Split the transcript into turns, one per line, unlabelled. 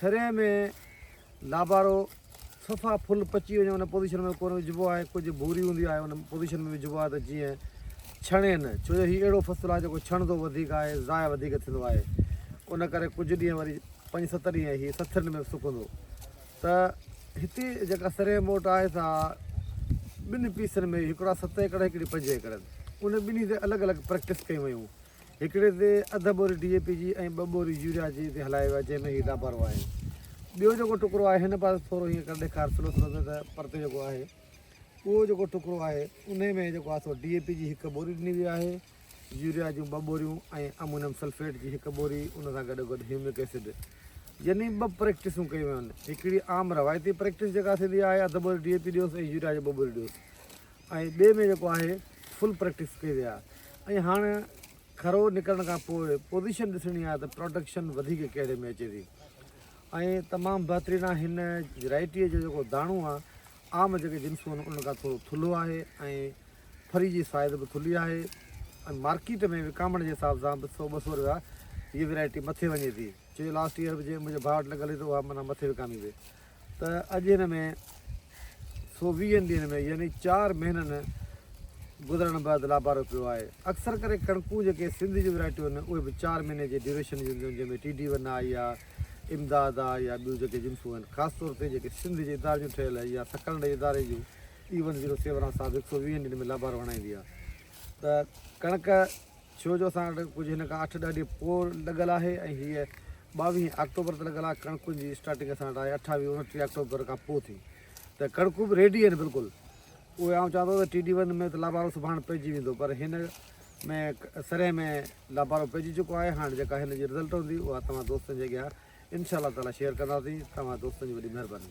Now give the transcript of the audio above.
سري ۾ لابارو صفا ڦل پچي وڃي ان پوزيشن ۾ ڪونه وجهبو آهي ڪجهه ڀوري هوندي آهي ان پوزيشن ۾ وجهبو آهي ته جيئن ڇڻي نه ڇو جو هي اهڙو فصل آهي جيڪو ڇڻندو وڌيڪ آهي ضايع وڌيڪ ٿيندو آهي ان ڪري ڪجهه ڏينهن وري پنج ست ڏينهن هي سٿرين ۾ سڪندو ته هتي جيڪا سري موٽ آهي سا ٻن پيسن ۾ هڪڙا ست ايڪڙ هڪڙي پنج ايڪڙ ان ٻنهي تي الڳ الڳ پريڪٽس ڪيون ويون هڪڙي تي اڌ ٻوري ڊي اي پي جي ۽ ٻه ٻوريون يوريا جي تي هلائي ويا جنهن ۾ هي لاڀارو آهي ٻيو جيڪو ٽڪرو آهي هن پاسي ٿورو هيئن ڪري ڏيکار سلو سلو ۾ ته پرتي جيڪو آهي اهو جيڪو ٽڪرو آهي انهي ۾ جيڪو آهي سو ڊي اي پي جي هڪ ٻوري ڏني وئي آهي يوريا جون ٻه ٻوريون ۽ امونيم سلفيٽ جي هڪ ٻوري ان سان گڏو گڏ هيومڪ ايسڊ يعني ٻه پريڪٽسون ڪيون ويون آهن هڪڙي عام روايتي پريڪٽس جيڪا ٿيندي آهي اڌ ٻوري ڊي اي پي ڏيوس ۽ يوريا جي ٻه ٻوري ڏيوس ۽ ٻئي ۾ جيڪو آهي فل پريڪٽس ڪئي ويا ۽ هاڻ کرو نڪرڻ کان پوء پوزيشن ڏسڻي آهي ته پروڊڪشن وڌيڪ ڪهڙي ۾ اچي ٿي ۽ تمام بهترين آهي هن ويرائٽيء جو جيڪو داڻو آهي عام جيڪي جنسون آهن ان کان ٿورو ٿلهو آهي ۽ ڦري جي سائز به ٿلهي آهي ۽ مارڪيٽ ۾ وڪامڻ جي حساب سان به سو ٻه سو روپيا هيء ويرائٽي مٿي وڃي ٿي ڇو جو لاسٽ ايئر به جنهن منهنجي ڀاء وٽ لڳل هئي ته اها معنيٰ مٿي وڪامي وئي ته اڄ هن ۾ سو ويهن ڏينهن ۾ يعني چار مهينن گذرڻ بعد لابارو پيو آهي اڪثر ڪري ڪڻڪون جيڪي سنڌ جون ورائٽيون آهن اهي به چار مهيني جي ڊيوريشن جون جن ۾ ٽي ڊي ون آهي يا امداد آهي يا ٻيون جيڪي جنسون آهن خاص طور تي جيڪي سنڌ جي اداري جون ٺهيل يا سڪرنڊ اداري جون ای ون زيرو سيون ساهب هڪ سو ويهن ڏينهن ۾ لابارو هڻائيندي آهي ته ڪڻڪ ڇو جو اسان وٽ ڪجهه هن کان اٺ ڏهه ڏينهن پوء لڳل آهي ۽ هيء ٻاويهين آڪٽوبر تي لڳل آهي ڪڻڪن جي اسٽارٽنگ اسان وٽ آهي اٺاويهه اوڻٽيهه آڪٽوبر کان پوء ٿي ته ڪڻڪون به ريڊي آهن بلڪل اهي آئون چوان ٿو ته ٽي ڊي ون ۾ ته لابارو سڀاڻ پئجي ويندو پر هن ۾ سرهي ۾ لابارو پئجي چڪو آهي هاڻ جيڪا هن جي رزلٽ هوندي اها توهان دوستن جي اڳيان انشاء الله تعاليٰ شيئر ڪنداسين توهان دوستن جي وڏي مهرباني